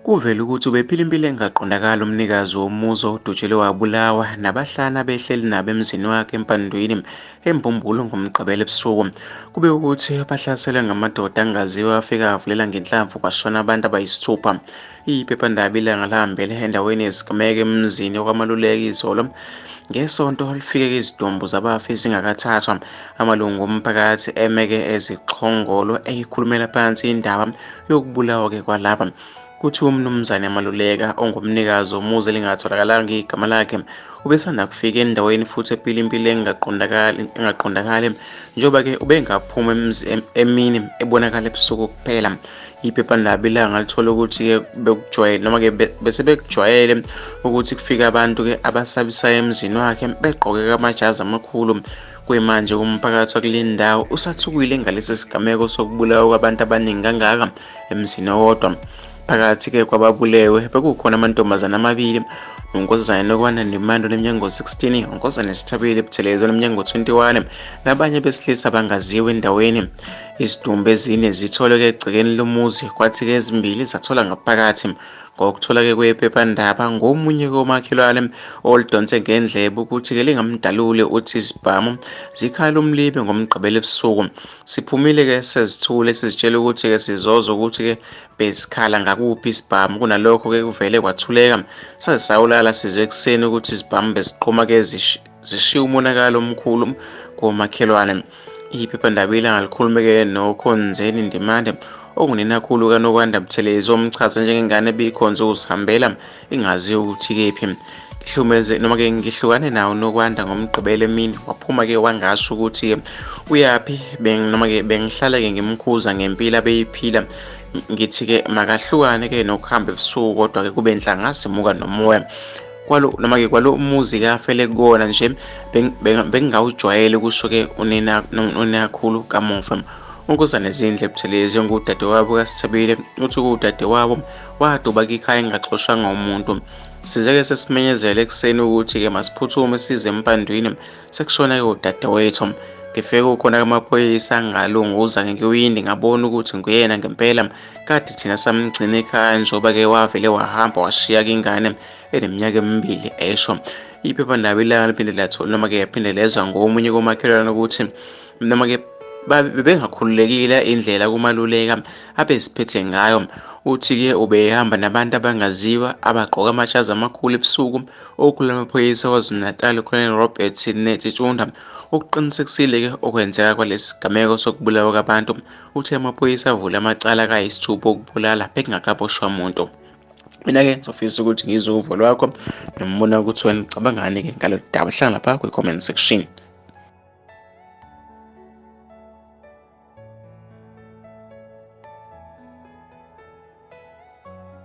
Kuvele ukuthi ubephila impilo engaqondakali umnikazi womuzi owudutshelwe wabulawa nabahlana behleli nabo emzini wakhe empandwini embumbulu ngomgqibelo ebusuku kube ukuthi bahlaselwe ngamadoda angaziwa afika avulela ngenhlamvu kwashona abantu abayisithupha Iphephandaba ilanga lihambele endaweni yesigameko emzini okwamaluleka izolo ngesonto lifike izidumbu zabafi zingakathathwa amalungu omphakathi emeke ezixhongolo eyikhulumela phansi indaba yokubulawa-ke kwalaba kuthi umnumzane maluleka ongumnikazi womuzi elingatholakalanga igama lakhe ubesanda kufika endaweni futhi ephila impilo engaqondakali njengoba-ke ubengaphuma emini ebonakala ebusuku kuphela iphephandaba ilanga lithole ukuthi-ke bekujwayele noma-ke bese bekujwayele ukuthi kufike abantu-ke abasabisayo emzini wakhe begqoke kamajazi amakhulu kuyimanje umphakathi wakule ndawo usathukile ngalesi sigameko sokubulawa kwabantu abaningi kangaka emzini owodwa phakathi-ke kwababulewe bekukhona amantombazane amabili unkosazane lokwana nemando nemnyango 16 unkosazane sithabile buthelezi onemnyango 21 nabanye besilisa bangaziwe endaweni Izidumbu ezine zitholeke egcekeni lomuzi kwathi-ke ezimbili zathola ngaphakathi ngokutholake kwephephandaba ngomunye komakhelwane olidonse ngendlebe ukuthi-ke lingamdaluli uthi izibhamu zikhala umlibe ngomgqibelo ebusuku siphumile-ke sezithule sizitshela ukuthi-ke sizoza ukuthi-ke besikhala ngakuphi isibhamu kunalokho-ke kuvele kwathuleka saze sawulala sizwe ekuseni ukuthi izibhamu beziqhuma-ke zishiye umonakalo omkhulu komakhelwane iphephandaba ilanga likhulumeke nokhonzeni ndimande ongunenakhulu kanokwanda buthelezi omchaze njengengane ebikhonze ukuzihambela ingaziyo ukuthi kephi ngihlumeze noma ke ngihlukane nawo nokwanda ngomgqibelo emini waphuma ke wangasho ukuthi uyaphi noma ke bengihlale ke ngimkhuza ngempilo abeyiphila ngithi-ke makahlukane-ke nokuhamba ebusuku kodwa-ke kube nhlanga simuka nomoya kwalo noma ke kwalo muzi ke afele kona nje bengingawujwayele ukusuke unina unakhulu kamuva unkosana zindle buthelezi ongudadewabo kasithabile uthi kuwudadewabo waduba kikhaya engaxoshanga umuntu sizeke sesimenyezele ekuseni ukuthi-ke masiphuthume size empandwini sekushona-ke udadewethu ngifike ukhona kamaphoyisa ngalunguza ngekiwindi ngabona ukuthi nguyena ngempela kade thina samgcina ekhaya njengoba ke wavele wahamba washiya ingane eneminyaka emibili esho iphephandaba ilanga liphinde lathola noma ke yaphinde lezwa ngomunye komakhelwane ukuthi noma ke bebengakhululekile indlela kumaluleka abeziphethe ngayo uthi-ke ubehamba nabantu abangaziwa abagqoka amashazi amakhulu ebusuku okhulula amaphoyisa kwazulu-natal ucolonel robert netsitshunda ukuqinisekisile-ke okwenzeka kwalesi sigameko sokubulawa kwabantu Uthe amaphoyisa avule amacala kayisithupha okubulala bekungakaboshwa muntu. Mina-ke ngizofisa ukuthi ngizwe uvo lwakho nombono ukuthi wena ucabangani-ke ngalolu daba hlala lapha kwi-comment section